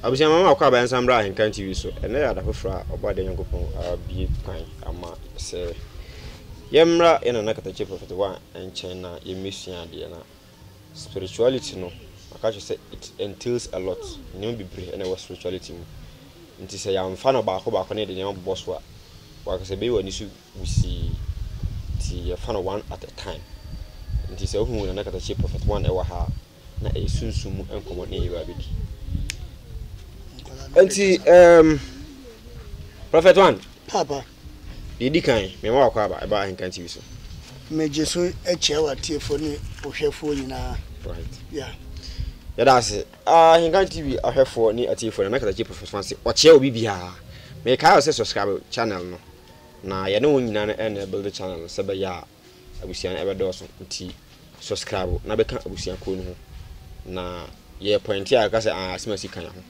Abusua mama wakɔ abayɛnsa mmra ahenkan TV so. Ɛnɛ yɛ ada foforɔ a ɔbɔ adeɛ Nyankopɔn abue kwan ama sɛ yɛmmra yɛ nana katakye prɔfɛt wa nkyɛn na yɛmmɛsua adeɛ na spirituality no maka kyerɛ sɛ it entails a lot nneɛma bebree ɛna ɛwɔ spirituality mu nti sɛ yɛamfa no baako baako ne yɛde nneɛma bobɔ so a wakasɛ bɛyi w'ani so wusii nti yɛfa no one at a time nti sɛ wohu nana katakye prɔfɛt wa ɛwɔ ha a na ɛyɛ sunsum mu nkɔmmɔ ne Yehowa bɛdi. Nti, um, Prophet One. Papa. Deɛ di kan, mema wakɔ aba, ɛba Ahenkan TV so. Megye so akyia w'atiefoɔ ne ohwɛfoɔ nyinaa. Right. Yeah. Yɛda ase. Ahenkan TV ahwɛfoɔ ne atiefoɔ na mɛkasa kyerɛ Prophet One sɛ ɔkyerɛ obi biara. Mekae sɛ subscribe channel no. Na yɛne wɔn nyinaa no ɛna ɛbuild channel no sɛ bɛyɛ a abusua no ɛbɛdɔɔso nti subscribe na bɛka abusua kuo no ho na yɛ point a ɛka sɛ asɛm asi kan ho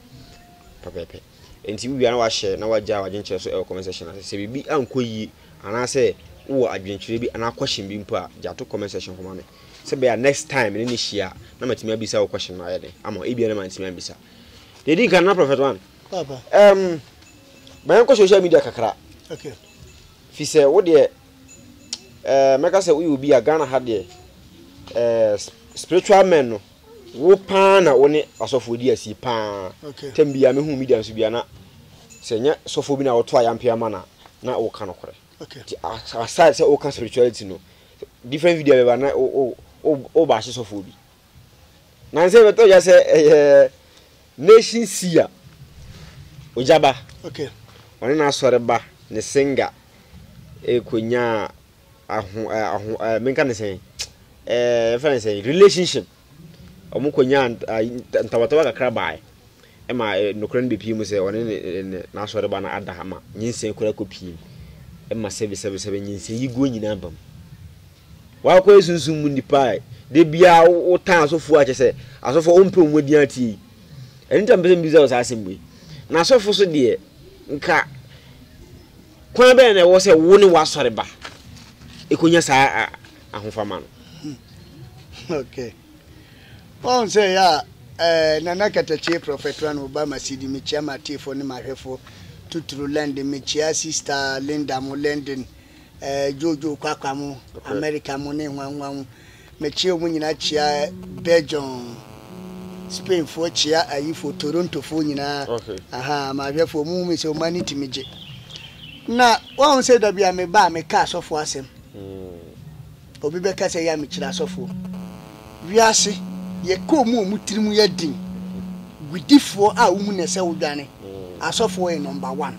pɛpɛpɛ nti wowia na wahyɛ na wagya wadwenkyerɛ so ɛwɔ comment section ase sɛ biribi ankɔ yie anaasɛ wowɔ adwenkyerɛ bi anaa question bi mpo a gya to comment section hɔ ma me sɛ bɛyɛ next time ne ne hyia na matumi abisa wo question no ayɛ dɛn ama ebia na mantumi ambisa deɛ di nka na prophet one um, ma yɛnkɔ social media kakra okay. fi sɛ wo deɛ ɛɛ mɛka sɛ woyɛ obi a ghana ha deɛ ɛɛ spiritual men no wo paa na wo ne asɔfoɔ di asie paa okay. tɛm bia mehu media nso bia na sɛ nyɛ sɔfoɔ bi na wɔto ayampe ama na na woka nokorɛ okay. aside sɛ woka spirituality no different video bɛba na woba ahye sɔfoɔ bi Nansa yɛbɛtɔ dwa sɛ ɛyɛ nation si a ogyaba okay. ɔne n'asɔreba ne singa ɛkɔnya aho aho menka ne sɛn ɛfɛ ne sɛn relationship ɔmo kɔnya ntawatawa kakra bae ɛma nokorɛ no bɛpie mu sɛ ɔne n'asɔreba no ada ma nyinsɛn koraa kɔpie mu ɛma sɛbisɛbisɛbi nyinsɛn yi guo nyinaa bam Wakɔ yɛ sunsum mu nipa a da biara wotan asɔfoɔ a kyɛ sɛ asɔfoɔ wompɛ wɔn adin ateɛ yi. Ɛno nti a mepɛ sɛ mebisa wo saa asɛm wei. Na asɔfo so deɛ nka kwan bɛn na ɛwɔ sɛ wo ne w'asɔre ba ɛkɔnya saa ahofama no? Okay. Wɔn sɛ yɛ a eh, Nana Katakyie Prɔfɛt Ran Obama Sidi mekyia m'atiefoɔ ne m'ahwɛfoɔ tuturu London mekyia Sista Linda mo London ɛɛ Jojo Kwakwa mo, America mo ne nwanwa mo. Mekyia wɔn nyinaa kyia Belgium, Spainfoɔ kyia ayifoɔ Torontofoɔ nyinaa. Aha, mahwɛfoɔ mo hu me sɛ wɔn ani tumi gye. Na wɔn sɛ dabi a meba a meka asɔfoɔ asɛm. Hmm. Obi bɛka sɛ yɛ a mekyerɛ asɔfoɔ. Wiase yɛkɔɔ mu a wɔn tirim yɛ den. Gwidifoɔ a wɔn mu na ɛsɛ wodwane. Hmm. Asɔfoɔ yɛ number one.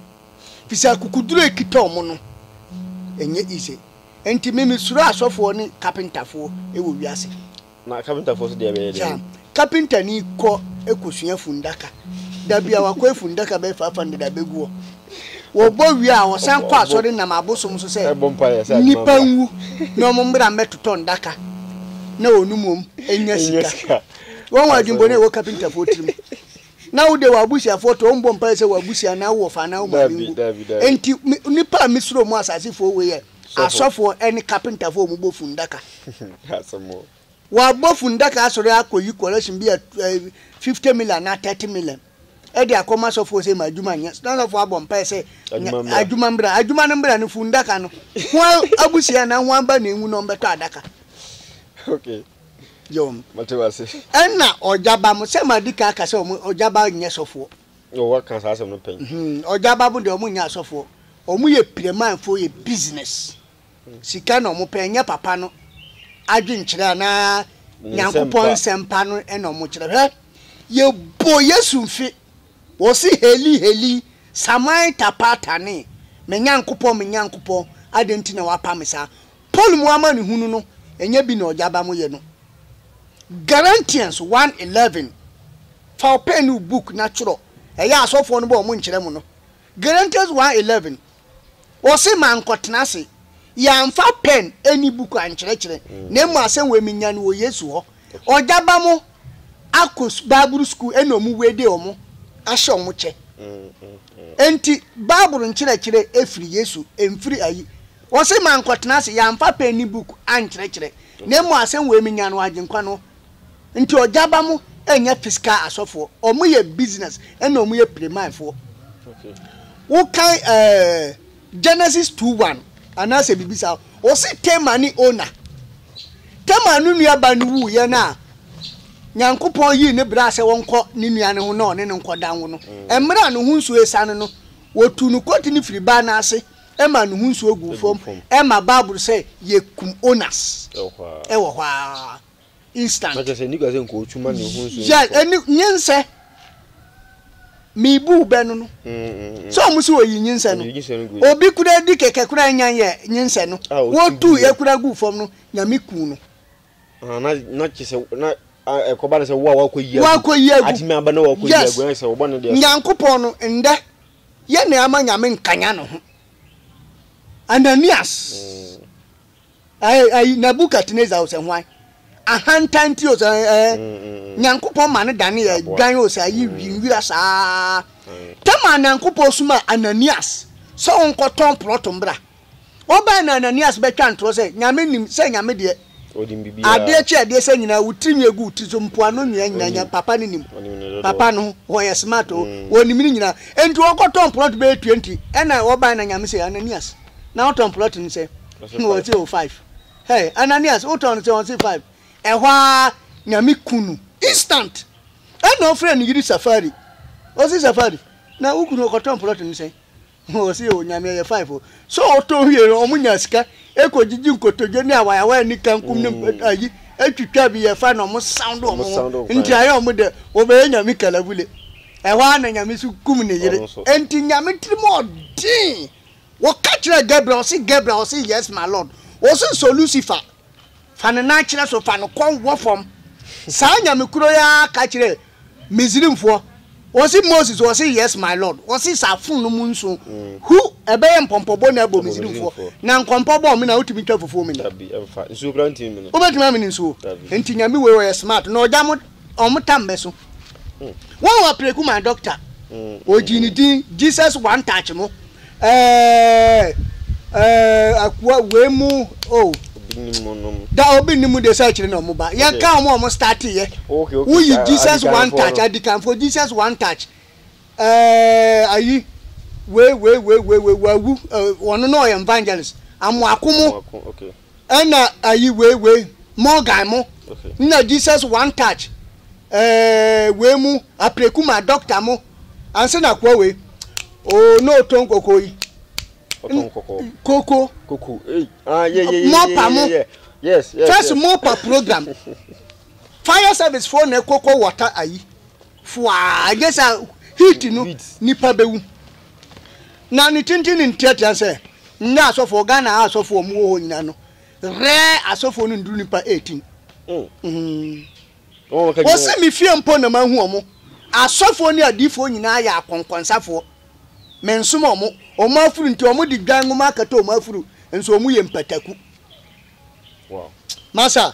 Efisɛ akokoduru a ekita wɔn no, ɛnyɛ easy. Enti me, misuro asɔfoɔ ne kapentafoɔ wɔ wiase. Na kapentafoɔ nso deɛ bɛyɛ dɛn? Kapentani kɔ kɔsua funnaka. Da biara wakɔyɛ funnaka bɛyɛ five hundred a, bɛgu hɔ. Wɔbɔ wie a, wɔsan kɔ asɔre nam abosom so sɛ nnipa nwu na wɔmmra mmɛtotɔ nnaka na wɔnom wom nya sika. Wɔn adwemmɔne a ɛwɔ kapentafoɔ tirim. na wo deɛ w'abusuafoɔ tɔ ɔmbɔ mpaeɛ sɛ w'abusua anaa wo wɔfa anaa wo maame Daabi, nwu daabi, daabi. enti me nnipa a mesuro mo asasefoɔ wei yɛ Sɔfo. asɔfoɔ ɛne kapentafoɔ a wɔn bɔ fundaka Asɛm o. w'abɔ fundaka asɔre akɔyi collection bi a tu- eh, 50 million anaa 30 million ɛde akɔma asɔfoɔ sɛ ma adwuma nyɛ na asɔfoɔ abɔ mpaeɛ sɛ Adwuma nya- mmra. adwuma mbra adwuma no mbra no fundaka no ho a- abusua anaa ho aba na ɛnwu na ɔmbɛtɔ adaka Okay. yɛ wɔn. Mate wase. Ɛna ɔgyaba mo sɛ ma di kan aka sɛ wɔn ɔgyaba nyɛ sɔfoɔ. Wɔ waka saa asɛm no pɛn. Ɔgyaba mo deɛ wɔn nyɛ asɔfoɔ. Wɔn yɛ piramanfoɔ yɛ business. Sika na wɔn pɛ ɛnyɛ papa no adwenkyerɛ anaa nyankopɔn nsɛmpa no ɛna wɔn kyerɛ hwɛ yɛ bɔ yesu mfe wɔsi heli heli saman tapatane me nyankopɔn me nyankopɔn adɛn nti na wapa me saa Paul mu amanehunu no nyɛ bi na ɔde aba mo yɛ no. Galatians one eleven, Fa wo pɛn ne wo book na twerɛ, ɛyɛ a asɔfoɔ no bɔ wɔn nkyerɛ mo no. Galatians one eleven, Ɔse mankɔtena ase, yɛamfa pɛn ne book ankyerɛkyerɛ, na mmom asɛm wei menya no wɔ Yesu hɔ. Ɔde aba mo akɔ Bible school ɛna wɔn wei de wɔn ahyɛ wɔn kyɛ. Enti Bible nkyerɛkyerɛ firi Yesu, ɛmfiri ayi. Ose, Mankɔtena ase, yɛamfa pɛn ne book ankyerɛkyerɛ, na mmom asɛm wei menya no Agyenkwa no nti, Ɔgya ba mo nyɛ physical asɔfoɔ, wɔn yɛ business ɛna wɔn yɛ Playman foɔ. Wokan ɛɛ Genesis two one anaasɛ biribi saa, ɔse Tamar ne Owner. Tamar no nua ba no wuu yɛ no a, Nyankopɔn yii ne braa sɛ wɔnkɔ ne nua no ho na ɔne no nkɔda nwo no. Mmerɛ a ne ho nsuo ɛsane no, wɔtuu no kɔti no firi baa no ase, ma ne ho nsuo guu fam ma bible sɛ yɛkum onas wɔ hɔ a instant yɛ ɛne nyensɛ mebu bɛ no no sɛ ɔmo sɛ ɔyi nyensɛ no obi kura di kɛkɛ kura nya yɛ nyensɛ no wɔtu yɛ kura gu fam no nyame ku no na kyɛ sɛ na ɛkɔba no sɛ wo a wakɔ yi agu atumi aba na wakɔ yi agu na sɛ wɔbɔ no deɛ nyankopɔn no ndɛ Yɛ nea ama Nyame nkanyan ne ho. Ananias, ɛɛ, ayi, Nebukadnesar o, sɛ hwan? Ahantan nti o, sɛ ɛɛ, Nyankopɔn ma no danee adwan o, sɛ ayi, nwira saa. Tɛm a Nyankopɔn somaa Ananias sɛ ɔnkɔtɔn plɔto mbra. Wɔbae na Ananias bɛtwa ntorɔ sɛ, Nyame nim sɛ Nyame deɛ adeɛ kye adeɛ sɛ nyinaa wo tiri nwi gu wo tiri so mpoano nwea nyinaa nyinaa papa no nim papa no ho wɔyɛ smart o wɔnim ne nyinaa enti wɔkɔtɔn plot bɛyɛ 20 ɛna wɔbae na Nyame sɛ Ananias na wotɔn plot no sɛ wɔse o 5 hey Ananias wotɔn no sɛ wɔse 5 ɛhɔ ara Nyame ku no instant ɛna ɔfrɛ ne yiri Safari ɔse Safari na wo kunu ɔkɔtɔn plot no sɛ Wɔsi yɛ wɔ Nyame yɛ five o. Sɛ ɔtɔn wie no ɔmo nya sika ekɔ gyigyi nkotodwe ne awayawa ne kankum ne mm. ayi etwitwa bi yɛ fa na ɔmo sound ɔmo ho. Nti ayɛ ɔmo dɛ wɔbɛyɛ Nyame kalabule. Ɛhɔ ara na Nyame so kum ne yere. Nti Nyame tirim ɔden. Wɔka kyerɛ Gabriel ɔsi Gabriel ɔsi yes my lord. Wɔsi sɔ Lucifer Fa no nan kyerɛ so, fa no kɔn wɔ fam. Saa Nyame koro yi ara ka kyerɛɛ Misrimfoɔ, ɔse, Moses, ɔse, Yes, my Lord, ɔse, saa fononoo nson, hu, ɛbɛyɛ mpɔmpɔbɔ na abɔ Misrimfoɔ, na nkɔmpɔ bɔ ɔmena a wotumi twa fufuo mene. Dabi, ɛmfa. Nsuo koraa ntumi mene. Wobɛtumi amene nsuo? Dabi. Enti Nyame wei ɔyɛ smart, na ɔgya mo. Wɔn tam bɛ so. Wɔn wɔ preku maa doctor. Ɔgyee ne din Jesus one touch mo. Ɛɛɛɛɛ ɛɛɛɛɛ akua wei mo oh. Obi nim mo nom. Da obi nim mo deɛ sɛ akyire na wɔn ba. Yɛn ka wɔn a wɔn starte yɛ. Okay okay. Woyi Jesus one touch adikanfoɔ Jesus one touch ɛɛɛɛɛ ayi wei wei wei wei wei wawu wɔn no na ɔyɛ evangelist amoako mo. Amoako okay. Ɛna ayi wei wei Morgan mo nna Jesus one touch ɛɛɛ wei mo apreku ma doctor mo ansa na koa wei oo na ɔtɔ nkoko yi. Ɔtɔ nkoko. Koko. Koko ei ah yɛ yɛ yɛ mɔpa mo yes yes first mɔpa program fire service fo na koko water ayi. Fwaa, ɛnyɛ saa o, heat no nipa bɛwu. Na ne tenten ne nteatea sɛ, Nnɛ asɔfoɔ, Ghana ha asɔfoɔ a wɔwɔ hɔ nyinaa no, rare asɔfoɔ no nnuru nipa 18. Mm. Wɔse me fie mpo na mahu wɔn. Asɔfoɔ ne adiifoɔ nyinaa yɛ akɔnkɔnsafoɔ. Mensom wɔn. Wɔn afuru nti, wɔde dwan nwoma akata wɔn afuru, nso wɔyɛ mpataku. Wow. Masa,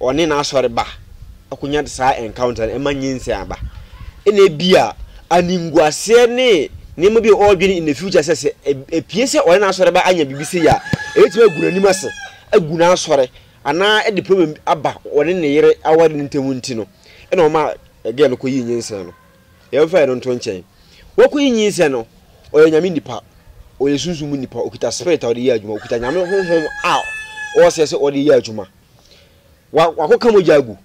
ɔne n'asɔre ba akonya saa encounter no, ɛma nyinsɛn aba. Ɛna ebia animguaseɛ ne nneɛma bi a ɔredwene in the future sɛ sɛ epie sɛ ɔne n'asɔre ba anya biribi sei a, ebetumi agu n'anim ase, agu n'asɔre, anaa ɛde problem aba ɔne ne yere aware no ntam nti no, ɛna ɔma girl no kɔyii nyinsɛn no. Yɛmfa ɛno nto nkyɛn. Woku yi nyinsɛn no, ɔyɛ nyame nipa, ɔyɛ sunsum mu nipa, ɔkuta spirit a ɔde yɛ adwuma, ɔkuta nyame honhom a ɔsɛ sɛ ɔde yɛ adwuma. Wa wakɔka mogya agu.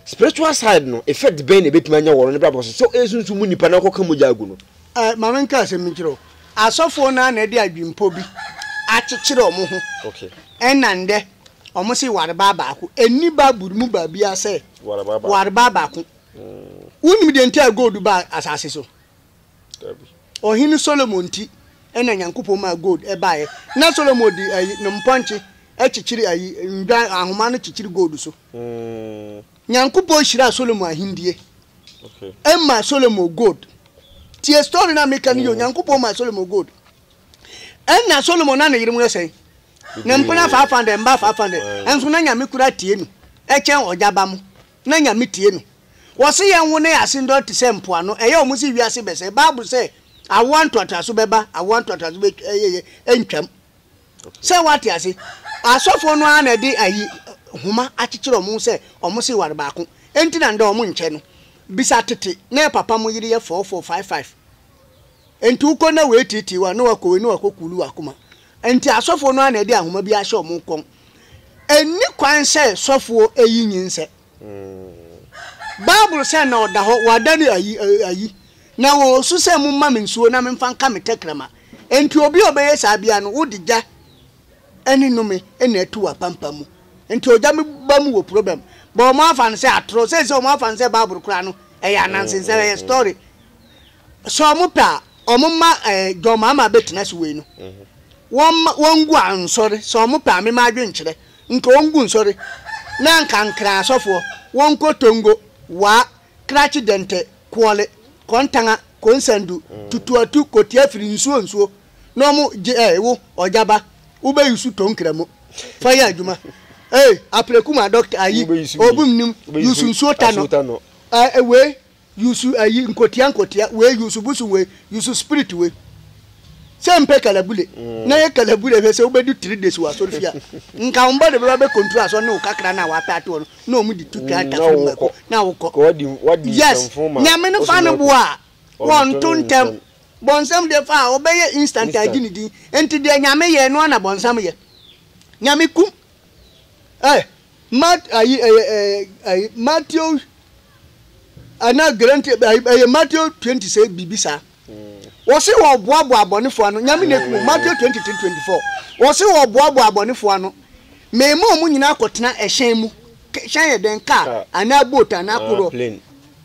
Spiritual side no, effect bɛn na ebetumi anya wɔ no ne brabɔ so? Sɛ ɔyɛ sunsum mu nipa na ɔkɔka mogya agu no. Eh, ma me nka asɛm bi nkyerɛ wo. Asɔfoɔ no ara na ɛde adwempɔ bi akyekyere wɔn ho. Okay. Ɛna ndɛ, wɔn se ware baa baako. Ɛnni Bible mu baabiara sɛ ware baa baako. Wonim deɛ nti a gold baa asase so? Ɔhene Solomon nti na Nyankopɔn maa gold baeɛ. Na Solomon de ayi ne mpɔnkye kyekyere ayi ndwan ahoma no kyekyere gold so. Nyankopɔn hyiraa Solomon ahendie ɛma Solomon gold. Tie story na meka no yio. Nyankopɔn maa Solomon gold. Ɛna Solomon na ne yere mu yɛ sɛn? Ne mpena faafa dɛ, mba faafa dɛ. Ɛnso na Nyame kura tie no ɛkyɛn ɔgya ba mo. Na Nyame tie no. Wɔse yɛn wo ne ase ndɔ te sɛ mpoano, ɛyɛ ɔmo se wiase bɛsɛe. Bible sɛ awoa ntoatoaso bɛba, awoa ntoatoaso bɛtwa ɛyɛ yɛ ɛntwam. Sɛ woate ase? Asɔfoɔ no ara na ɛde ayi nhoma akyekyere ɔmo ho sɛ ɔmo se ware baako. Enti na ndɛ ɔmo nkyɛ no. Bisa tete, na ɛpapa mo yere yɛ four four, five five. Enti wokɔ na woetiatia wei a, na wakɔ wei, na wakɔ kuulu w'akoma. Enti asɔfoɔ no ara na ɛde ahoma bi ahyɛ wɔn kɔn. Ɛnni kwan sɛ sɔfoɔ yi nyinsɛ. Bible sɛ na ɔda hɔ, wɔada no ayi, ayi, na wɔresu sɛ, Momma me nsuo na memfa nka me tɛkrɛma. Enti obi a ɔbɛyɛ saa biara no, wode gya ne nnome na atu w'apampam mu. Enti ogya mu ba mu wɔ problem. But wɔafa no sɛ atorɔ. Seesei wɔafa no sɛ Bible koraa no, ɛyɛ ananse nsɛm, ɛyɛ story. sɛ ɔmo pɛ a ɔmo ma ɛɛ John Mahama bɛtena si wei no wɔn ma wɔn ngu a nsɔre sɛ ɔmo pɛ a me ma adwen kyerɛ nka wɔn ngu nsɔre na nka nkran asɔfoɔ wɔn nkɔ Tongo, Waa, Krakye Dɛntɛ, Koɔle, Kɔntanga, Konsandu, Tutuatu, Kotiafiri, Nsuo Nsuo na ɔmo gye ɛɛ wo Ɔgyaba wo bɛ yusu Tonkra mu fa yɛ adwuma ɛɛ Apreku ma Doctor ayi Obum nim yusu Nsuo Tanɔ ɛɛ wei. Yusu ayi nkotia nkotia wei yusu bosom wei yusu spirit wei sɛ mpɛ kalabule na yɛ kalabule hwɛ sɛ wobɛdu three days wɔ asɔre fie a nka wo mba de bɛba bɛ control asɔre ne wo kakra no a wapɛ ato hɔ no na ɔmo de tu twa ntasoro mu mako na wokɔ yes nyame no fa no boa a wɔnto ntɛm bɔnsam deɛ fa a ɔbɛyɛ instant agye ne din enti deɛ nyame yɛ ɛno a na bɔnsam yɛ nyame kum Ɛ, Mat, ayi, ɛyɛ, ɛ, ayi, Matthew, ɛna Gerenti, ayi, ɛyɛ Matthew 20 sɛ biribi saa. Wɔse wɔboaboa abɔnefo ano, nyame na ɛkumu, Matthew 23, 24. Wɔse wɔboaboa abɔnefo ano, mema ɔmo nyina akɔtena ɛhyɛn mu, hyɛn yɛ dɛn, kaa, anaa boat, anaa korɔ,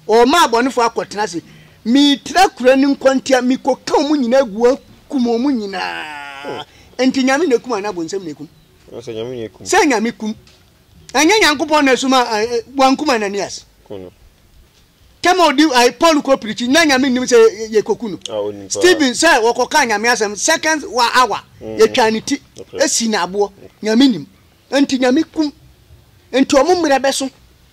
ɔma abɔnefo akɔtena ase, metra kura no nkwa ntia, mekɔka ɔmo nyina agu, akum ɔmo nyinaa, nti nyame na ɛkum anaa bonsam na ɛkum? Sɛ Nyame kum. Ɛnyɛ Nyankopɔn na ɛsoma a wankum Ananias. Tɛma odi ayi Paul kɔ pirikyi na Nyame nim sɛ yɛkɔku no. Stephen sɛ wɔkɔkaa Nyame asɛm second wa awa mm. yɛtwaa ne ti esi na aboɔ. Nyame nim. Nti Nyame kum. Nti ɔmo mmerɛ bɛso.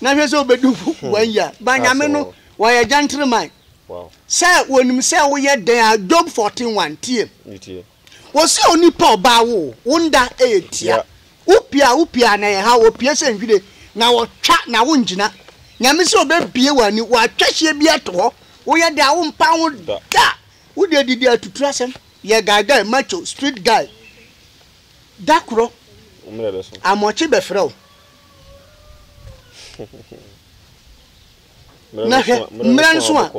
na hwɛ sɛ wobɛdu ho hmm. one year ba nyame no wɔyɛ gentleman sɛ wɔnim sɛ woyɛ dɛn a job 14 1 tie wɔsɛ onipa ɔbaa wo wo nda ɛyɛ e tia wopia wopia na ɛha wɔpie sɛ nhwire na wɔtwa na wongyina nyame sɛ ɔbɛbie w'ani wɔatwa hyeɛ bi ato hɔ woyɛ dɛ a wompa ho da wode adidi atuturu asɛm yɛ guy guy macho street guy da korɔ amɔkye bɛfrɛ wo Na hwɛ, mmerɛ nso a,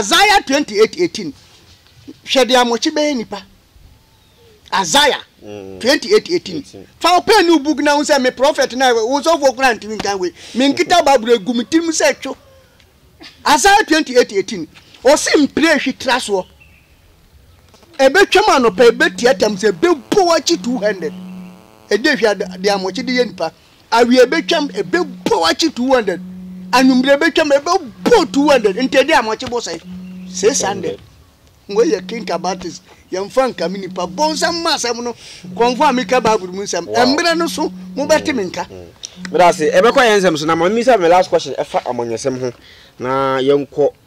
Isaiah 28 18, hwɛ deɛ amoakyi bɛyɛ nnipa. Isaiah 28 18, fa wo pɛn ne wo book na wo sɛ, me prɔfɛt na wo sɔfoɔ koraa ntumi nkan wei, me nkita Bible agu me tirim sɛ two. Isaiah 28 18, ɔse mpire hwi tra soɔ. Ebetwam anɔpa, ebetia tam sɛ ebebow akyi 200. Ɛde hwɛ de amɔkye de yɛ nipa. Awia ebetwam, ebebow akyi 200. Anwummere ebetwam, ebebow 200. Nti ɛde amɔkye bo sɛn? 600. Wei yɛ Kinka Baptist. Yɛmfa nka me nipa. Bonsam ma asɛm no. Kɔmfo a meka Bible mu nsɛm. Ɛmmrɛ no so, mobɛte me nka. Meda ase. Ɛbɛkɔ yɛn nsɛm so. Na ma mimisa me last question ɛfa amanyɔsɛm ho na yɛnkɔ.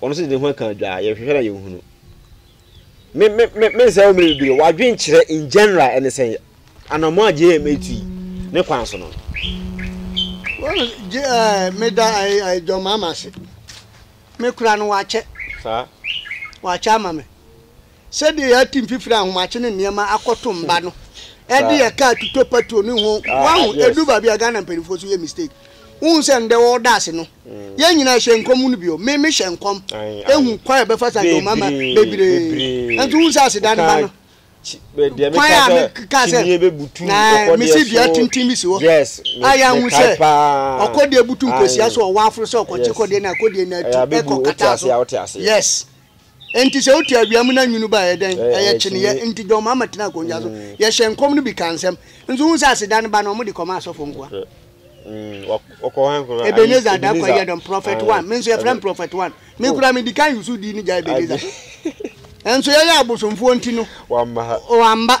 Wɔn nso de ne ho aka adwa a yɛhwehwɛ na yɛnhunu. Me, me, me, me nsɛm mmiri bebree. Wadwen kyerɛ in general ɛne sɛn anamɔ a JM etu yi ne kwan so no. Wɔn gye ɛɛ eh, meda ɛɛ eh, eh, John Mahama ase. Me kura no wakyɛ. Saa. Wakyɛ ama me. Sɛdeɛ yɛatu mfifire ahomakye ne nneɛma akɔto mba no ɛde ɛka atutɔ patroni ho wahu ɛdu baabi a Ghana mpaninfoɔ nso yɛ mistake wohu sɛ ndɛ wɔda ase no yɛn nyinaa hyɛ nkɔm no bio me me hyɛ nkɔm ɛhu kwan a yɛbɛfa so agye ɔmama bebree nso wohu sɛ aseda no ba no kwan a me kaa sɛ na me si dua tenten bi si hɔ a yɛahu sɛ ɔkɔdeɛ butu nkɔsia so ɔwɔ aforo sɛ ɔkɔkye kɔdeɛ na kɔdeɛ no atu ɛkɔ kata so yes Enti sɛ wotu awia mu na nwunu ba a, ɛyɛ dɛn? Ɛyɛ kyineɛ. Enti John Mahama tenaa akonnwa so. Yɛhyɛɛ nkɔm no bi kaa nsɛm. Nso wohu sɛ aseda no ba no, wɔde kɔmaa asɔfo nkoa. Ebenezer Darko Ayiyadom, Prophet One. Me nso wɔfrɛ me Prophet One. Me koraa medi kan yii so din no gyae Ebenezer so. Nanso yɛyɛ abosomfoɔ nti no, wamma.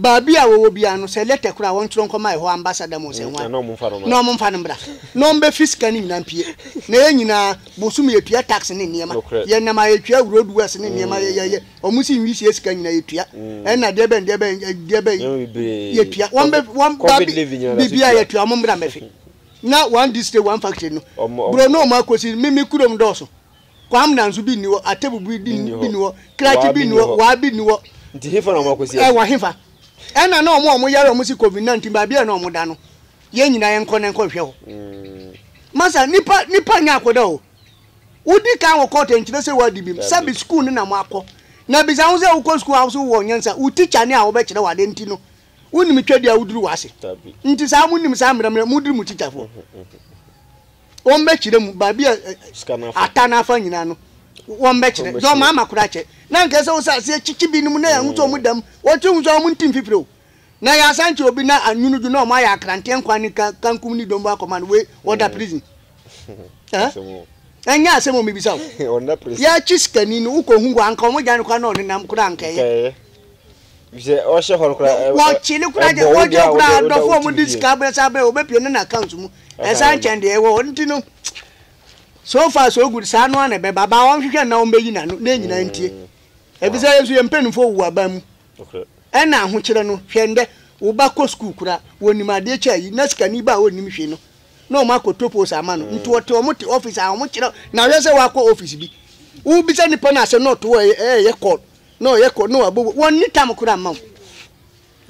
Baabi a wɔwɔ biara no, sɛ lɛtɛ koro a, wɔntwerɛ nkɔma ɛhɔ ambassador mu sɛ hwan, na wɔmfa no mmra, na wɔmbefi sika no nyinaa mpue. Na yɛn nyinaa, bosoom yɛtua tax ne nneɛma. Yɛn nam a yɛtua, road works ne nneɛma yɛ yɛ yɛ, wɔn si nwisie sika nyinaa yɛtua. Ɛna deɛ bɛn deɛ bɛn deɛ bɛn yɛtua. Wɔmbe wɔn baabi biribiara yɛtua, wɔmmra mmɛfe. Na one district, one factory no, bro na wɔn akɔsi, me me kurom dɔɔso. Kwamna nso bi nni hɔ, Atebu bi di Nni hɔ. bi nni hɔ, Krakye Waa bi bi nni nni hɔ, hɔ. Waa bi nni hɔ. Nti hefa na wɔakɔsi Ɛ afi? wɔ hefa? Ɛna na wɔn a wɔn yare a wɔn si covid 19 baabi a na wɔn da no, yɛn nyinaa yɛn nkɔ na nkɔ nhwɛ hɔ. Masa nipa nipa nyɛ akɔda o. Wodi kan wɔ court nkyerɛ sɛ wadi bi. Dabi. Sɛbi school no na mo akɔ. Na bisa ho sɛ wokɔ school a wo so wowɔ nyansa, wo teacher ne a wɔbɛkyerɛ wo ade nti no, wonim twadi a woduru w'ase. Dabi. Nti saa mo nim saa mmerɛ mmerɛ, moduru mo teacher foɔ. Wɔn bɛ kyerɛ mu baabi a ata n'afa nyinaa no wɔn bɛ kyerɛ dɛ wɔn ama koraa kyɛ na nkɛ sɛ wɔsɛ aseɛ kyikyi bi nom na yɛn ahosuo wɔn dam wɔn ti ahosuo wɔn nti mfifiri o na yɛ asan kyerɛ obi na anyunu dwo na wɔn ayɛ akranteɛ nkwa ne kankum ne dɔm bɔ akɔma no wei wɔda mm. prison ɛnyɛ eh? asɛm omi bisa o yɛakyi sikani no wokɔ hu hɔ anka wɔn gya no kora na ɔnenam koraa anka ɛyɛ Sɛ ɔhyɛ hɔ no koraa, ɛ- ɛ- wɔkye no koraa ɛbɔ gye wo wɔgye deɛ a no koraa wode- woda adɔfo wo a wɔde TV sika abrɛ saa abrɛ wɔbɛpie no n'account mu Ɛka ɛsan yɛn nkyɛn deɛ ɛwɔ hɔ nti no so far so good saa no a na ɛbɛba baa wɔnhwehwɛ no na wɔbɛyi n'ano na ɛnyinaa ntie ɛbi sɛ yɛnso yɛn mpanimfoɔ wu aban mu Nokorɛ. ɛna ahokyerɛ no hwɛ ndɛ wo ba kɔ sukuu koraa wɔnim adeɛ kyɛ ayi na sikani ba a ɔnnim hwee no na wɔn akɔtɔ post ama no nti wɔte wɔn te office a wɔn kyerɛ na hwɛ sɛ wakɔ office bi wobisa nipa no asɛm na ɔto wɔ ɛyɛ call na ɔyɛ kɔ na wabɔ wɔ nni tam koraa mma wo.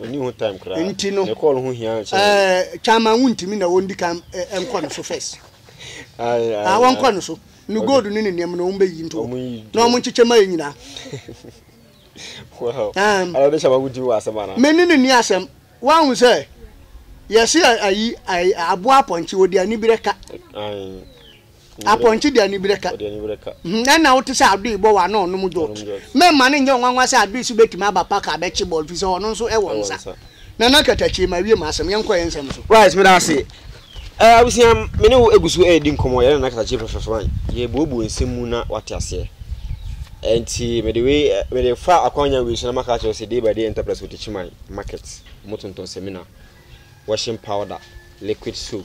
Ɔnni ho time koraa. Nti no. Ne kɔɔl ho hia kyɛn. Ɛɛ Chairman wo ntumi na wɔndi kan nkɔ no so first. Ayi ayi. Ah wɔnkɔ no so. Ne gold ne ne nneɛma na wɔn bɛ yi nto. Wɔn yi. Na wɔn nkyekyɛ ma yɛ nyinaa. Wow. Um. Ala ɔde Chairman wo ntumi wɔ asɛm ana. Me ne ne ni asɛm. Wɔn sɛ yɛsi ayi ayi aboa apɔnkye ɔdi anibrɛ ka. Ayi. Apɔnkye de aniberɛ ka ho. Ɛnna wote sɛ Adoe bɔ wɔ ano nom Jot. Mɛmma no nyɛ wo nwanwa sɛ Adoe so bɛtumi aba park abɛkye bɔɔl firi sɛ ɔno nso wɔ nsa. Nana Katakyie, mawie m'asɛm. Yɛnkɔ yɛn nsɛm so. Right, meda ase. Eh, abusua, me ne wo gu so redi nkɔmmɔ, yɛne Nana Katakyie fɛfɛɛfɛ man. Yɛrebuebue nsɛm mu na wate aseɛ. Ɛnti mede wei, mede fa akwanya wei so na maka akyerɛ sɛ Day by Day Enterprise Wotakyi Man Market, wɔtontɔn sɛmina, washing powder, liquid soap,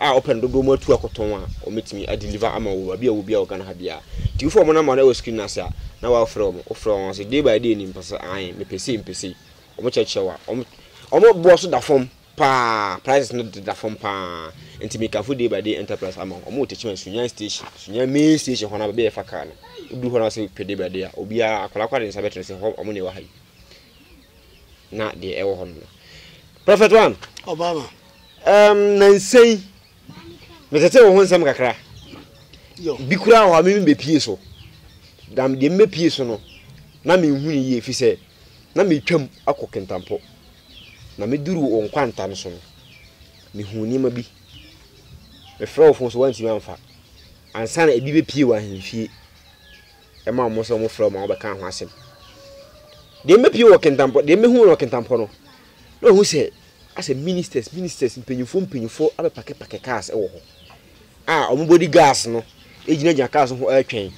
a wɔpɛ no dodoɔ mu atu akɔtɔn a wɔbɛtumi a deliver ama wo baabi a wɔ biara wɔ Ghana ha biara nti wofɛ wɔn number no wɔ screen no ase a na wafrɛ wɔn wofrɛ wɔn ase day by day ni mpɛ sɛ ae mepɛ sei mepɛ sei wɔn kyerɛkyerɛ wa wɔn wɔn boɔ so da fam paa prices no da fam paa nti mekafo day by day enterprise ama wɔn wɔ tekyima sunyan station sunyan main station hɔ no baabi a yɛfa kaa no wodu hɔ no ase pɛ day by day a obiara akwadaa akwadaa de nsa bɛtena sɛ hɔ wɔn na ɛwɔ ha yi na deɛ ɛwɔ hɔ no no prophet one Obama. Ɛɛm, nnansa yi, metetee wo ho nsɛm kakra. Bi koraa wɔ hɔ a mimi bepie so. Na deɛ mebepie so no, na menhu no yie, ɛfiri sɛ na metwam akɔ Kintampo. Na meduru wo nkwanta no so no, mehuu nneɛma bi. Mefrɛ wo fon so woantumi amfa. Ansa na ebi bepie wɔ ahemfie, ɛma wɔn sɛ wɔfrɛ wo ma wobɛka ho asɛm. Deɛ mebepie wɔ Kintampo, deɛ mehu wɔ Kintampo no, Na wahu sɛ asɛ ministers ministers, mpanyimfoɔ mpanyimfoɔ abɛpakɛpakɛ cars wɔ hɔ a wɔn body guards no gyinagyina cars no ho retwɛn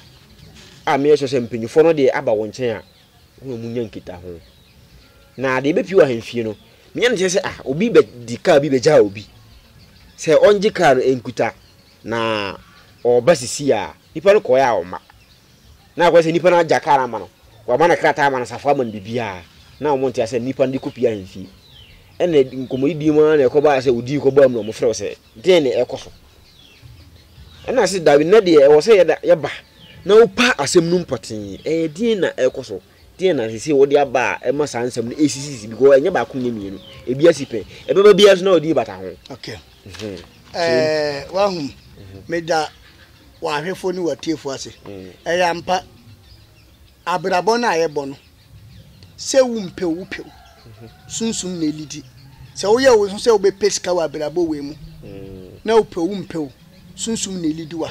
a meyɛ sure sɛ mpanyimfoɔ no deɛ aba wɔn nkyɛn a wɔn a wɔnya nkitaho. Na deɛ ɛbɛpie wɔ ahemfie no, menya no kyerɛ sɛ ah obi bɛdi car bi bɛgyaa obi sɛ ɔngye car no nkuta na ɔreba sisi a nipa no kɔɛ a ɔma. Na akɔyɛ sɛ nipa no agya kar ama no, wama no krataa ama no safoa ama no biribiara, na wɔn nte asɛ nipa no de kɔpie ahemfie. Ɛna nkɔmmɔdidie mu ara na ɛkɔbaa sɛ ɔdii kɔbaa mu na wɔfrɛ wo sɛ, deɛ na ɛkɔ so. Ɛna se daabi nnɛ deɛ ɛwɔ sɛ yɛda yɛba na wopa asɛm no mu pɔtee, ɛyɛ deɛ na ɛkɔ so. Deɛn na sesei wode aba a ɛma saa nsɛm no ɛsisisi because ɛnyɛ baako nyɛ mmienu ebi asi pɛ ɛbɛba biara so na ɔde bata ho. Okay. Mm-hmm. Eh, wahu mm-hmm. meda w'ahwɛfoɔ ne w'atiefoɔ ase mm. ɛyɛ ampa abrabɔ no a yɛbɔ no sɛ wo mpɛ wo pɛ mm-hmm. sunsum na ɛlidi sɛ woyɛ wo ho sɛ wobɛpɛ sika wɔ abrabɔ wei mu mm. na wopɛ wo mpɛ sunsum na ɛlidi wa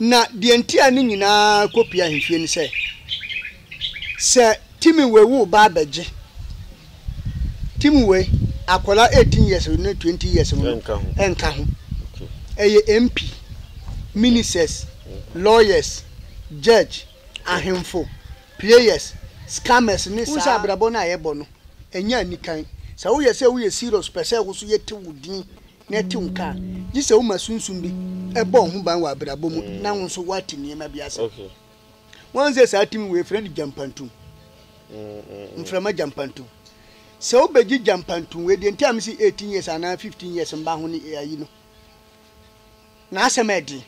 Na deɛ nti a ne nyinaa kɔ pue ahwehwɛ ni sɛ, sɛ Timiwe wo ba abɛgye, Timiwe, akwadaa eighteen years ne twenty years no nka ho, ɛyɛ MP, Ministers, Lawyers, Judge, Ahemfo, Players, Scammers ne saa. Wohu sɛ abrabɔ no a yɛbɔ no, ɛnyɛ anikan. Sɛ woyɛ sɛ woyɛ serious pɛ sɛ wo nso yɛte wo din. na ɛtew nka a, gye sɛ woma sunsum bi bɔ wo ho ban wɔ abrabɔ mu na wo nso woate nneɛma bi ase. Woahu sɛ saa tumi wei yɛfrɛ no gyampantum, mframa gyampantum. Sɛ wobɛgye gyampantum wei deɛ nti a mese 18 years anaa 15 years mba ho ne ayi no, n'asɛm yɛ den.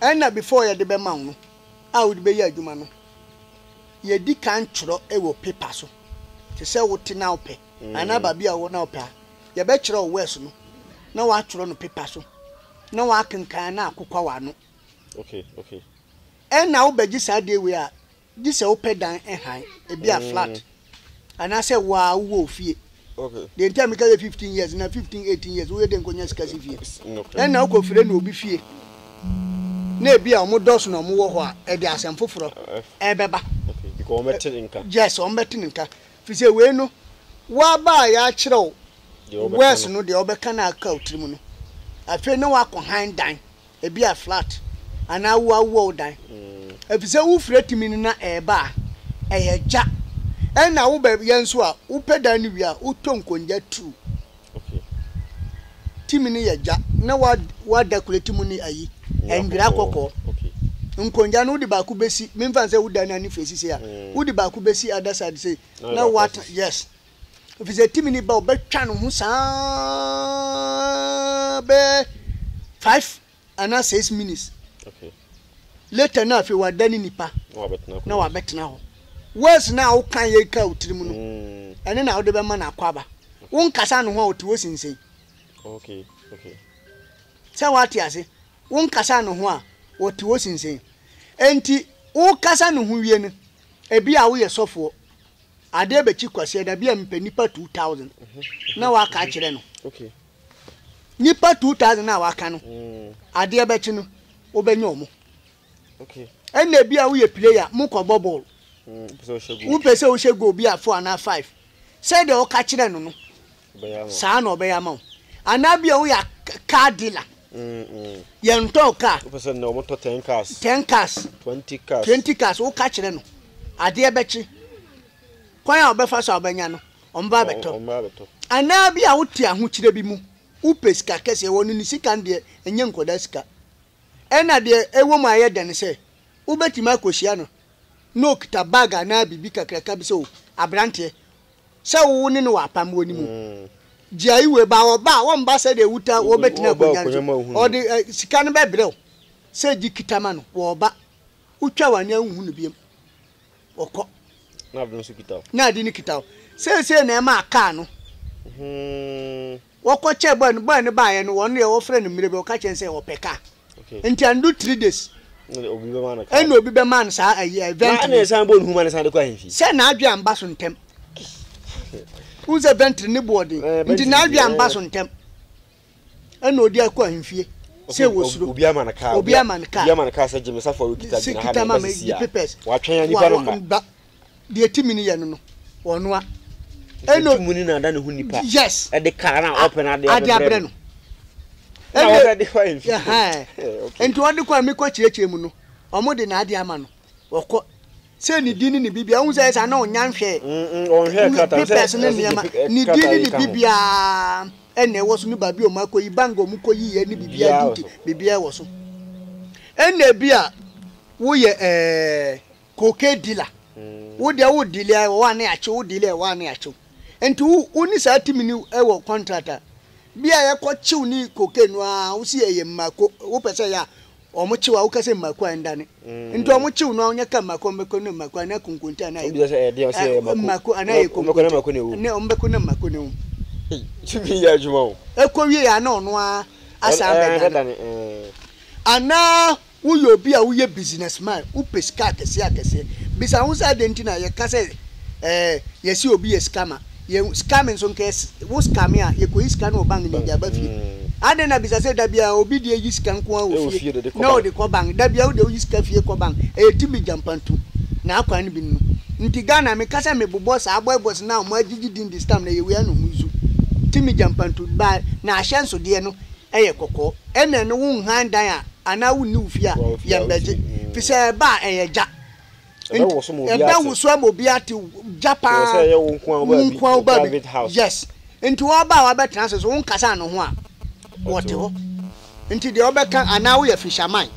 Ɛna before yɛde bɛma wo no a wode bɛyɛ adwuma no, yɛdi kan twerɛ wɔ paper so te sɛ wote na wopɛ. anaa baabi a ɔwɔ na ɔpɛ a, yɛbɛkyerɛ wo wɛs no na woatwerɛ no pepa so na woakenkan na akokwa w'ano. Ɛnna wobɛgye saa deɛ wei a, gye sɛ wopɛ dan hann, ebi a flat, anaasɛ wo ara wowɔ wo fie. Deɛ nti a meka yɛ fifteen years na fifteen eighteen years woyɛ dɛn kɔnya sika si fie? Ɛnna wokɔfrɛ no obi fie na ebi a wɔdɔɔso na wɔwɔ hɔ a, ɛde asɛm foforɔ rebɛba. Yes, wɔbɛte no nka. Efisɛ wei no, woaba a yɛakyerɛw words no deɛ wobɛka no aka wo tirim no. Afei na woakɔ hann dan, ebia flat, anaa woawoa wo dan. Efisɛ wofiri atumi no na ɛreba a, ɛyɛ gya. Ɛnna woba yɛn so a, wopɛ dan no wie a, wotɔ nkongya tuw Timi no yɛ gya na wɔada kulati mu ne ayi, nwera kɔkɔɔ. Nkongya no wode baako bɛsi, memfa nsɛ woda no anifire si sei a, wode baako bɛsi other side sei na woate, yes. Ɛfiri sɛ timi no ba a, wɔbɛtwa ne ho saa bɛyɛ five anaa six minutes later na afei wada ne nipa na wabɛtena hɔ words na woka yɛ ka wo tirim no mm. ɛne na wode bɛma no akɔ aba wo nkasa no ho a wote wo sinsen sɛ woate ase wo nkasa no ho a wɔte wo sinsen enti wokasa no ho wie no ebi a woyɛ sɔfoɔ adeɛ bɛkyi kwaseɛ da bi a mpɛ nipa 2000 na waka akyerɛ no Nnipa two thousand no a waka no, adeɛ bɛkye no, wobɛnya wɔn. Ɛnna ebi a woyɛ player, mokɔbɔ bɔɔl. Wopɛ sɛ wohyɛ goal bi a four anaa five. Sɛdeɛ woka kyerɛ no no, saa na ɔbɛyɛ ama wo. Anaa bi a woyɛ car dealer. Yɛntɔn car. Wopɛ sɛ nnɛ wɔtɔ ten cars. Ten cars. Twenty cars. Twenty cars. Woka kyerɛ no, adeɛ bɛkye. Kwan a ɔbɛfa so a ɔbɛnya no, Ɔmmra abɛtɔ. Anaa bi a wote ahokyerɛ bi mu, wopɛ sika kɛseɛ, wɔ no ne sika no deɛ ɛnyɛ nkwadaa sika. Ɛna deɛ ɛwɔ mu a ɛyɛ dɛ ne sɛ, wobɛtumi akɔhyia no na ɔkita bag anaa biribi kakraka bi sɛ o, aberanteɛ, sɛ wo ne no wɔ apam wɔ ne mu, gyae wei, ba ɔba a, ɔmba sɛdeɛ wotaa wɔbɛtena akonnwa no so, ɔde sika no bɛbrɛ wo sɛ gye kita ma no, wɔ ɔba, wotwa w'ani a wonhu no biom. Wɔkɔ. Na ade no nso kita wo. Na ade no kita wo. Seesei na ɛmaa kaa no. Wɔkɔ kyɛɛ boy no. Boy no baeɛ no, wɔn deɛ wɔfrɛ no mmerɛ bi, wɔka kyerɛ no sɛ ɔpɛ kaa. Nti andu three days. Ɛna obi bɛmaa no kaa. Ɛna obi bɛmaa no saa ayi event no. Na ɛna ɛsan bɔ ne ho ma no san de kɔ ahemfie. Sɛ n'adwe amba so ntɛm. Wohu sɛ ventry ne boɔ den. Nti n'adwe amba so ntɛm. ɛna ɔde akɔ ahemfie sɛ wɔsuro obi ama no kaa obi ama no kaa obi ama no kaa sɛ gyeme safo a wɔkita gyina ha na ɛbɛ sisi a wɔatwɛn a nipa no mma deɛ timi no yɛ no no ɔnoa ɛna timi no na ada ne ho nipa yes ɛde kaa na ɔpɛ no ade abrɛ no ɛna ɔde kɔ ahemfie nti ɔde kɔ a mekɔ kyerɛkyerɛ mu no ɔmo de na ade ama no wɔkɔ sɛ ne din ne ne bibia wohu sɛ ɛsa na ɔnya nhwɛ papers ne nneɛma ne din ne ne bibia ɛna ɛwɔ so ne baabi ɔmo akɔyi bank ɔmo kɔyi yɛ ne bibia duty bibia ɛwɔ so ɛna ebi a woyɛ ɛɛ cocaine dealer wo deɛ wo dealer ɛwɔ hɔ a ne akyew wo dealer ɛwɔ hɔ a ne akyew nti wo wo ne saa timi ne ɛwɔ contract a bi a yɛkɔ kyew ne cocaine no a wosi ɛyɛ mmako wopɛ sɛ yɛ a Ɔmo kyew a woka sɛ mmaako a ndane nti ɔmo kyew no a ɔnyɛ ka mmaako a ɔmo bɛkɔ ne mmaako anaa konkonte anaa egu mmaako anaa yɛ konkonte ne ɔmo bɛko ne mmaako ne wom ɛkɔ wie a na ɔno ara asan bɛdane anaa woyɛ obi a woyɛ business man wopɛ sika akɛseɛ akɛseɛ bisa ho sɛ adɛn nti na yɛka sɛ ɛɛ yɛse obi yɛ sika ma. Yɛ sika me nso nka wo sika me a yɛkɔyi sika no wɔ bank ne de aba fie adɛn na bisa sɛ da biara obi deɛ yi sika nko ara wɔ fie na ɔde kɔ bank da biara wodeɛ woyi sika fie kɔ bank ɛyɛ timi gyampantu na akwan no bi no nti Ghana meka sɛ mebobɔ saa boy boys na ɔmo agyegye din this time na ɛyɛ wei a na ɔmo zu timi gyampantu ba na ahyɛnsodeɛ no ɛyɛ kɔkɔɔ ɛna ɛno wo nhan dan a anaa wonni wo fie a yɛmbɛgye fisɛ ɛba a ɛyɛ gya ɛbɛwoso ama obiara te ɛbɛwoso ama obiara te gya paa sɛ ɛyɛ wo nko a wobaa bi nko a wobaa bi yes nti wɔba a wɔbɛtena ase so wonkasa ano ho a wɔte hɔ nti deɛ wɔbɛka anaa woyɛ fisherman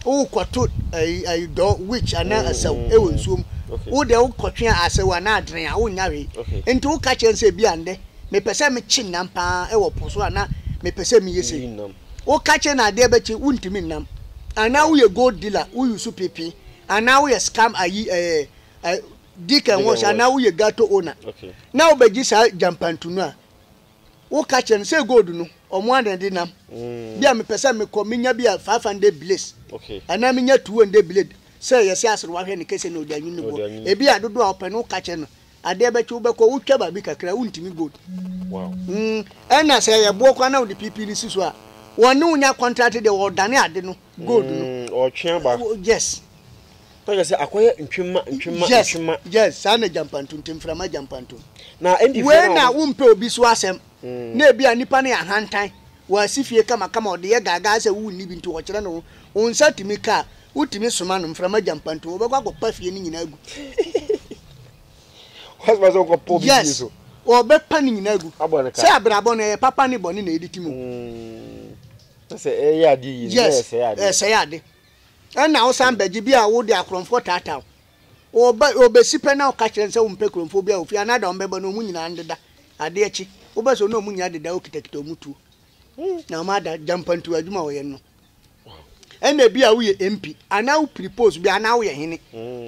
wokɔto ayi ayi dɔ witch anaa asaw ɛwɔ nsuom wo deɛ wokɔtwe a asaw anaa adren a wonnya hwee nti woka kyerɛ sɛ bi a ndɛ mepɛ sɛ mekye nam paa ɛwɔ po so anaa mepɛ sɛ meyɛ sɛ Woka kyerɛ no adeɛ bɛkye wontumi nnam anaa woyɛ gold dealer wo use pipi anaa woyɛ scam ayi ɛɛ ɛɛ dig and wash anaa woyɛ gato owner na wobɛgye saa gyampantu no a woka kyerɛ no sɛ gold no ɔmo ara na ɛde nam bi a mepɛ sɛ mekɔ menya bi a five hundred biles anaa menya two hundred biles sɛ yɛsɛ asere wahwɛ ne kese na ɔde anwene ne boɔ ebi a dodoɔ a wopɛ no woka kyerɛ no adeɛ bɛkye wobɛkɔ wotwa baabi kakra wontumi gold mm, ɛna sɛ ɛyɛ boɔ kora na wode pipi no si so a wɔne wo nya contract deɛ wɔdane ade no gold no mm, ɔtwe aba yes tɔjɛ sɛ akɔyɛ ntwema ntwema yes, ntwema yes saa na gyampanto nti mframa gyampanto na ɛndi fɛ na wei na wompɛ obi so asɛm mm. na ebi a nipa no yɛ ahantan Wasi fie kamakama, ɔde yɛ gaagaa sɛ wonni bi nti ɔkyerɛ ne ho. Wo nsa tumi ka a, wotumi soma no, mframa gya mpa nti wɔbɛkɔ akɔpa fie no nyinaa agu. Wɔasoma sɛ wɔnkɔpa obi fie so. Yes, wɔbɛpa ne nyinaa agu. Abɔ no ka. Sɛ abrabɔ no, ɛyɛ papa ne bɔne na ɛdi tim o. Na sɛ ɛyɛ ade yie no, na ɛsɛe ade. Yes, ɛsɛe ade. Ɛnna wosan bɛgye bi a wode akorɔmfoɔ taataa wo. Wɔba, wɔbɛsi pɛ na woka kyerɛ no sɛ wompɛ kuromfoɔ biara wɔ fie anaa da wɔn bɛba no wɔn nyinaa ndeda adeɛ akyi. Wobɛ sɛ wɔne wɔn nyinaa deda wokitakita wɔn tuo na wɔn ada gya mpantuo adwuma a wɔyɛ no. Ɛna ebi a woyɛ MP anaa wopiri post bi anaa woyɛ hene.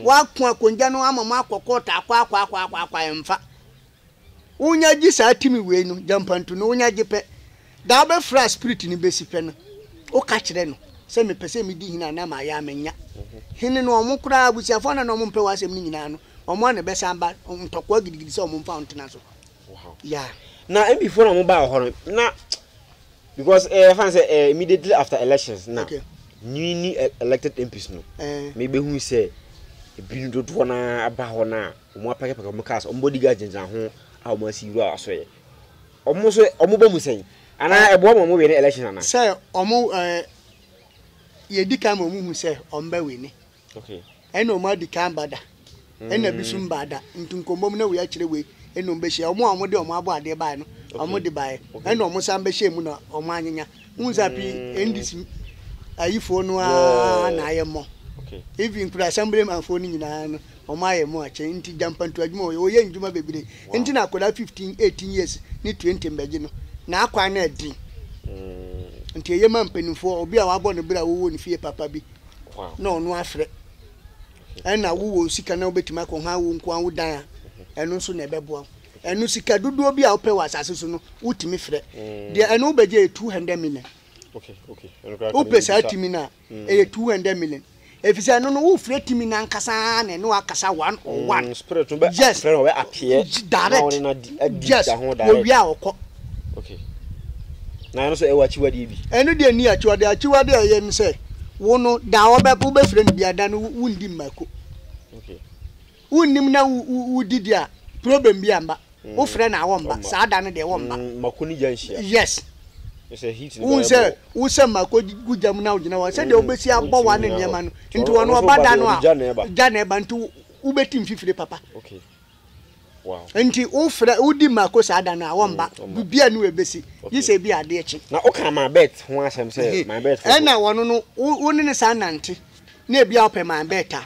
Woako akongya no ama mo akɔ court akɔ akɔ akɔ akɔ akɔ ɛmfa. Wonya gye saa timi wei no, gyampantu no, wonya gye pɛ, da a wobɛfrɛ a spirit no bɛsi pɛ no, woka kyerɛ no sɛ mepɛ sɛ medi hene a na mayɛ a manya. Hene no, wɔn koraa, abusuafoɔ no a na wɔmpɛ w'asɛm no nyinaa no, wɔn ara na ɛbɛsan aba ntɔkwa gidigidi sɛ wɔmfa wo ntena so. Yeah. Na MP foɔ na wɔn baa wɔ hɔ no, na because ɛyɛ fan sɛ ɛyɛ immediately after elections na Okay. newly e- elected MPs no, Eh. mebɛhu sɛ ebinom dodoɔ no ara ba hɔ no a, Wɔapakapaka wɔn cars, wɔn bodyguards gyinagyina ho a wɔasi wura asoɛe. Wɔn nso wɔba mu sɛn? Anaa ɛboa ma wɔwini elections anaa? Sɛ wɔn ɛɛ yɛdi kan ma wɔhu sɛ wɔbɛwini. Okay. Ɛna wɔn adi kan ba da. Ɛna mm. bi so mba da. Nti nkɔmmɔm na wei akyerɛ wei ɛna wɔn bɛhyia. Wɔn a wɔde wɔn abɔ adeɛ baeɛ no, wɔn de baeɛ. Ɛna wɔn san bɛhyɛ mu na wɔn anyenya. Wohu sɛ pii ndc ayifoɔ no aa na ayɛ mɔ even nkura assembly man foɔ no nyinaa no wɔn ayɛ mɔ akyɛ nti gyampantu adwuma wɔyɛ wɔyɛ ndwuma bebree nti na akwadaa fifteen eighteen years ne twenty mbɛgye no n'akwan no ɛden nti ɛyɛ ma mpanimfoɔ obi a wabɔ ne bere a wɔwɔ ne fie papa bi na ɔno afrɛ ɛna wowɔ sika na wobɛtumi akɔ ha wo nkoa wo dan a ɛno nso na ɛbɛboa wo. Ɛno sika dodoɔ bi a wopɛ wɔ asase so no wotumi frɛ deɛ ɛno wobɛgye yɛ 200 million wopɛ saa timi no a mm. ɛyɛ 200 million ɛfiri sɛ ɛno no wofrɛ timi no ankasa na ɛne wakasa one on mm, one yes direct yes wɔwia a ɔkɔ na ɛno so ɛwɔ akyiwadeɛ bi ɛno deɛ ni akyiwadeɛ akyiwadeɛ a ɛyɛ no sɛ wo no da wobɛfrɛ no biada no wondi mmako okay. Wonnim na wodi di a problem bi a mba. Wofrɛ no a wɔmba, saa da no deɛ wɔmba. Mako ne gya nhyia. Yes. Sɛ heat no bɛyɛ bɔ. Wo sɛ mako gu gya mu na wogyina hɔ a, sɛdeɛ wobɛsi abɔ w'ano nneɛma no, nti ɔno ɔba da no a, gya na ɛba nti wobɛti mfifire papa. Nti wofrɛ, wodi mako saa da no a wɔmba, biribiara nni hɔ a ɛbɛsi, gye sɛ ebi a adeɛ kye. Na woka my bet ho asɛm sɛ my bet foforɔ. Ɛna ɔno no, wo ne no san nante na ebi a wopɛ my bet a.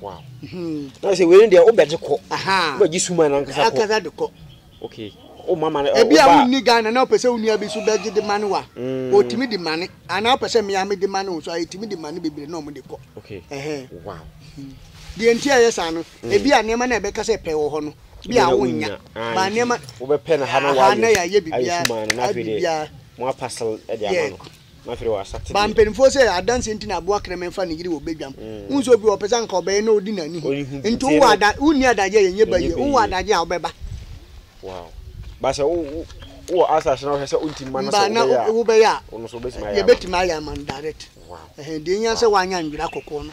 wow na sɛ wei deɛ wobɛgye kɔ wobɛgye suma no ankasa kɔ ankasa de kɔ okay o mama no ebi a wonni Ghana na wopɛ sɛ wo nua bi so bɛgye de ma ne wa ɔtumi mm. de ma ne anaa wopɛ sɛ mmea mede ma ne wo so a ɛtumi de ma ne bebree na ɔmo de kɔ okay ɛhɛn wow deɛ nti a ɛyɛ saa no mm. ebi a nneɛma na ɛbɛka sɛ pɛ wɔ hɔ no bi a wonnya ah, ba nneɛma wobɛpɛ na ha na wayɛ na yɛayɛ biribiara biribiara mo apasel de ama no Ba mpanimfoɔ sɛ adanseɛ nti na aboa kraman fa ne yere wɔ badwam. Wohu sɛ obi wɔ hɔ ɔpɛ sɛ anka ɔbɛyɛ na ɔdi n'ani ho. Nti wowɔ ada wonni adagyeɛ a ɛnyɛ ba yie. Wowɔ adagyeɛ a wobɛba. Mba na wobɛyɛ a yɛbɛtumi ayɛ ama no direct. Deɛ ɛhia ne sɛ woanyɛ anwera kɔkɔɔ no.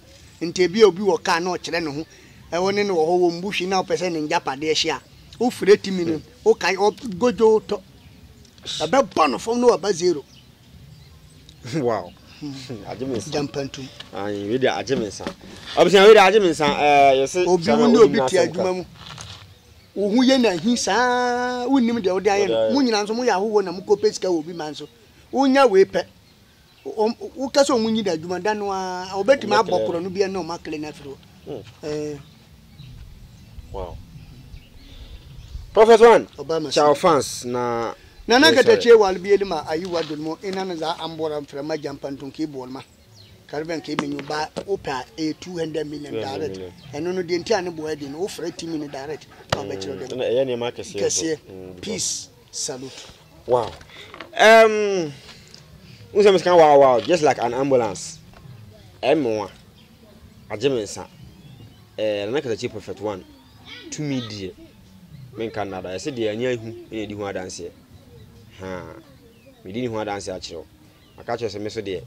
Nti ebia obi wɔ kaa na ɔkyerɛ ne ho, wo ne no wɔ hɔ, wɔmmu hwee na wopɛ sɛ ne ngyapadeɛ hye a, wofrɛ timi no, wokae ɔ, godwoo tɔ. Ɛbɛbɔ no fam na waba zero. Wow. Agye me nsa. Gyampantum. Ayi, wei deɛ agye me nsa. Abusua wei deɛ agye me nsa. Ɛɛ, yɛse Obi kyerɛ wo na ne obi obi te n'asɛm adwuma ka. mu. Wo ho yɛ no ahi saa, wonnim deɛ wode ayɛ Wode no. ayɛ. Mo nyinaa nso moyɛ ahɔhoɔ na mokɔpɛ sika wɔ obi man so. Wonya wei pɛ, Woka sɛ ɔmo nyi da adwuma da no ara wɔbɛtumi abɔ korɔ no bia na ɔmo akele no afiri hɔ. Hmm. Wow. Prophet One, ciao fans na Nana katakyie wal bieli ma ayi wa dol mo ina na za ambora mfra ma jampa ntun ki bol ma karben ki menyu ba opa a 200 million direct eno no die nti ane boa di no ofra timi no direct na obekiro dem kese peace Salute. Wow. Um, who said can wow wow just like an ambulance? Emoa. Ajemensa. Eh, na kata chi perfect one. To me dear. Men kan nada. I said dear anya ihu ene di ho adanse. Ha. Me di ni ho adanse akyerɛ. Aka kyerɛ sɛ me so deɛ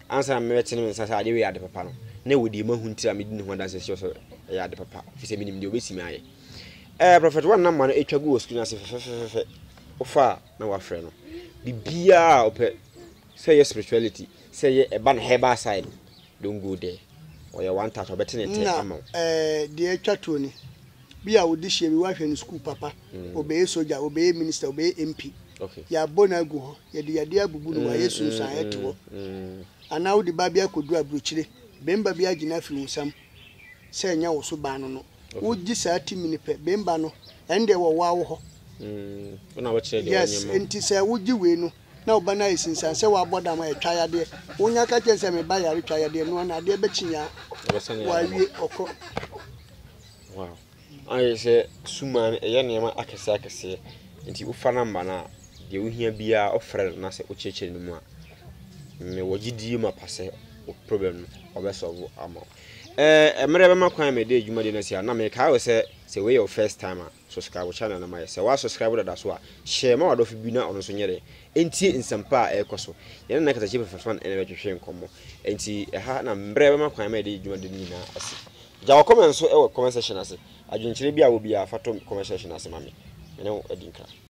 ansa na mɛbɛte ne nsa sɛ adeɛ wei yɛ ade papa no na ɛwɔ deɛ mahu ntira me di ne ho adanse sɛ sɛ ɛyɛ ade papa fi sɛ menim deɛ ɔbɛsi me ayɛ Ɛɛ prɔfɛt wɔn nam ma no atwa gu wɔ sukuu no ase fɛfɛfɛfɛ wofa a na wafrɛ no biribiara a ɔpɛ sɛ ɛyɛ spirituality sɛ ɛyɛ ɛba no herbal side don't go there ɔyɛ one touch ɔbɛte ne tɛ ama wo. na ɛɛ deɛ atwa toɔ ni bi a wode hyia bi wahwɛ no sukuu papa ɔbɛyɛ mm. soja ɔbɛyɛ minister ɔbɛyɛ mp okay. yɛabɔ no agu hɔ yɛde yadeɛ abubu no wayɛ mm, sunsuan ɛte hɔ mm, anaa wode ba bi akɔduru aburokyire bɛmba bi agyina afiri wo nsam sɛ ɛnyɛ wo so baa no no wogye saa timi no pɛ bɛmba no ɛndeɛ wɔwaa wo hɔ mm, yes nti sɛ wogye wei no na ɔba no ayɛ sinsan sɛ wabɔ dam a ɛtwa yadeɛ wonya ka kyɛn sɛ meba yare twa yadeɛ noa no adeɛ bɛkyi nyaa wawie ɔkɔ wow. Ayɛ sɛ sum a ɛyɛ nneɛma akɛseɛ akɛseɛ nti wofa number no a deɛ wohia biara wofrɛ no na sɛ wokyerɛkyerɛ no mu a mewɔ gyedie mapa sɛ wo problem no ɔbɛ solve ama wo ɛɛ mmerɛ bɛma kwan a mede adwuma de no asi a na mekae wo sɛ sɛ wei yɛ wo first time a subscribe wo channel no ma yɛ sɛ woa subscribe dada so a hyɛ ma wadɔfo bi na ɔno nso nyɛ dɛ ɛntie nsɛmpa a ɛrekɔ so yɛne nna kasakyi fɛfɛfa no ɛna bɛtwetwe nkɔmmɔ ɛnti ɛha na mmerɛ bɛma kwan a mede adwuma de no nyinaa asi Gya wo comment nso wɔ comment section ase. Adwenkyerɛ bi a wɔ biara fa to comment section ase ma me. Me ne wo adi nkra.